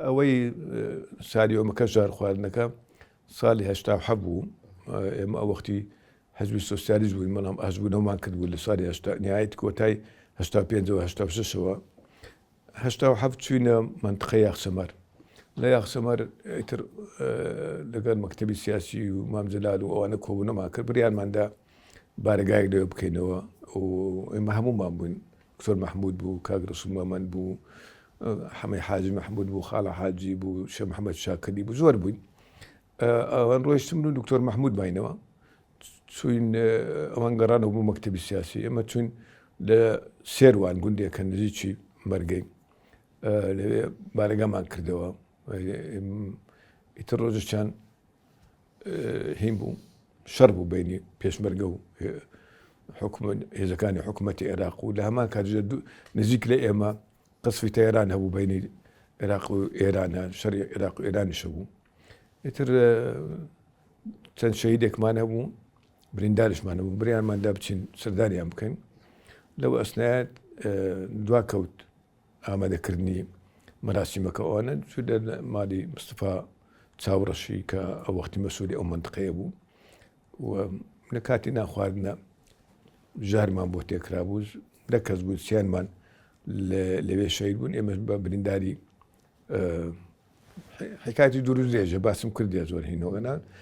ئەوەی سالی ئەومەکە ژار خواردنەکە سالی هشتا حە بوو ئێمە ئەو وەختی حزبی سوسیالیز بووین بەڵام ئەزبوونەوەمان کرد بوو لە سالی نهایت کۆتای هشتا پێنجەوە هشتا شەوە هشتا و حەفت چوینە منتقە یاخسەمەر لە یاخسەمەر ئیتر لەگەر مەکتتەبی سیاسی و مامجلال و ئەوانە کۆبوونەما کرد بریانماندا بارگای لێ بکەینەوە و ئێمە هەموومان بووین دکتۆر مەحمود بوو، کاک رەسول مەمەند بوو، حەمەی حاجی مەحمود بوو، خاڵە حاجی بوو، شێخ محەمەد شاکەری بوو، زۆر بووین. ئەوان ڕۆیشتن و دکتۆر مەحمود ماینەوە. چوین ئەوان گەڕانەوە بوو مەکتتەبی سیاسی ئەمە چوین لە سێروان گوندێکە نزیکی مەرگەی لەوێ بارەگامان کردەوە ئیتر ڕۆژەشان هین بوو شەڕ بوو بینی پێشمەرگە و هێزەکانی حکوومەتی عێراق و لە هەمان کاتژ نزیک لە ئێمە قسفی تەێران هەبوو بینی عێراق و ئێرانە شەری عێراق و ئێرانیشە بوو ئیتر چەند شەیدێکمان هەبوو بریندارشمان هەبوو بریانماندا بچین سەردانیان بکەین لەو ئەسنایەت دوا کەوت ئامادەکردنی مەراسیمەکە ئەوانە چوو دەر مالی مستفا چاوڕەشی کە ئە وەختی مەسووری ئەو منتقەیە بوو و لە کاتی ناخواردنە ژارمان بۆ تێکرا بوو دە کەس بوو سیانمان لەوێ شەید بوون ئێمە بە برینداری حکاتی دوور درێژە باسم کردێ زۆر هینەوەگەنان